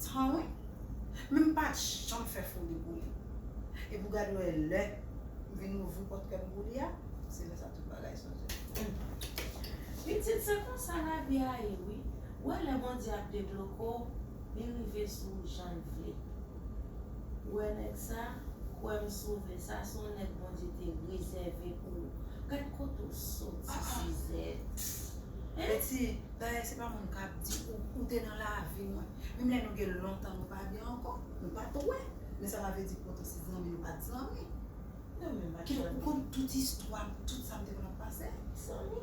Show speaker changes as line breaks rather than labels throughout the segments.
Tan wi. Men m pat janm fè fo debouli. Epi w gad wè lè m vin ouvri pòt kè m pou li a, se lè sa tout bagay chanje.
Pitit se konsa lavi a ye wi. Ou wè lè Bondye ap debloke w, li rive sou ou jan l vle. Ou wè nèg sa, kwè m sove, sa se yon nèg Bondye te rezève pou ou. Gad kote w soti Suzette. Mesi
dayè se pa moun kap di ou ou te nan lavi mwen menm lè nou gen lontan nou pa gen ankò nou pat wè men sa pa vle di poutan se zanmi nou pat zanmi
kidonk ou konn tout
istwam tout sam te konn ap pase zanmi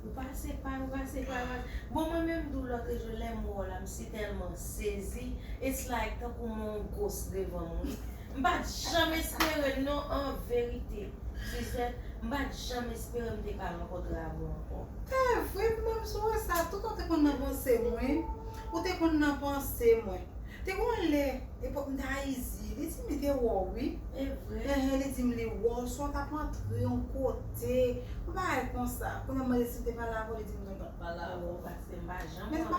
ou pa separe ou pa separe bon mwen menm tou lotre jou lèm wè w la m sitèlman sezi it's like tankou m wè yon ghost devan m wi. M pat janm espere l non an verite Suzette m pat janm espere m te ka rankontre avè w ankò. Evre m menm
sou wè sa tout ou te konn nan panse m wi ou te konn nan panse mwen te gon lè epòk m t a izi li di m li te wè w wi Evre? Enhen
li di m li wè w
swa w t ap antre yon kote yon
bagay
konsa
kounye
a m mande l si m te
pale
avè w li di m non
l pat
pale avè w
men
se pa.